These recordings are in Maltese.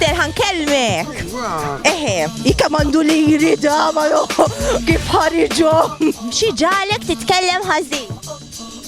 Terħan kelmek. Eħe, jikka mandu li jirida, ma kif ħarġom. Xi ġalek titkellem ħażin.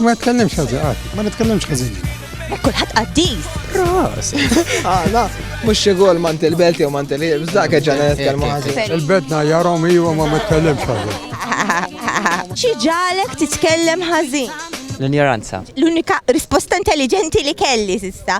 Ma tkellimx ħażin, ah, ma nitkellimx ħażin. Kulħadd qaddis. Ras. Għala, ah, mhux xi gol mant il-belt jew mant il-ħiebs, dak ġana nitkellmu ħażin. Il-bedna jarhom iwa ma nitkellimx ħażin. Xi ġalek titkellem ħażin. L-injoranza. L-unika risposta intelligenti li kelli sista.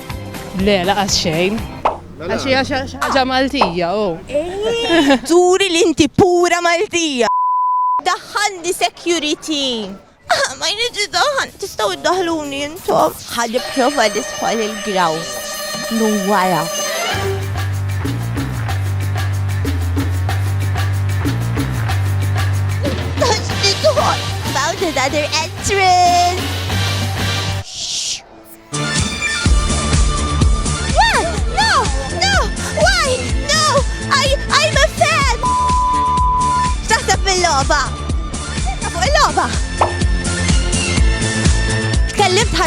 Le, laqas xejn. Mela. Għax hija xi ħaġa Maltija, oh. Eh, turi li inti pura Maltija. Daħħalni security. Ah, ma jridx daħħal, tistgħu iddaħluni intom. Ħalli prova li tħol il-graw. Nu wara. Found another entrance!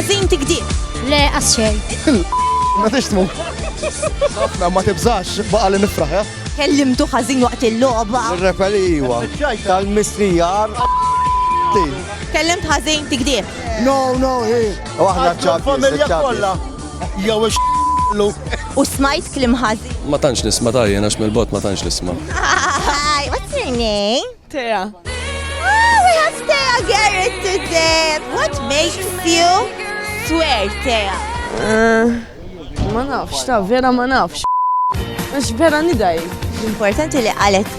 ħażin tikdib. Le, għasċej. Ma tixtmu. Ħafna ma tibżax baqa li nifraħ, ja? Kellimtu ħażin waqt il-logħba. Repeli iwa. Tal-mistrijar. Kellimt ħażin tikdib. No, no, hi. U aħna ċabbi. Familja kollha. Jew ix lu. U smajt klim ħażi. Ma tantx nisma' tajjen għax mill-bot ma tantx nisma'. Hi, what's your name? Tea. Oh, we have Tea Garrett today. What makes you swear, Tea? Eh, ma nafx, ta' vera ma nafx. Għax vera nidaj. Importanti li għalet.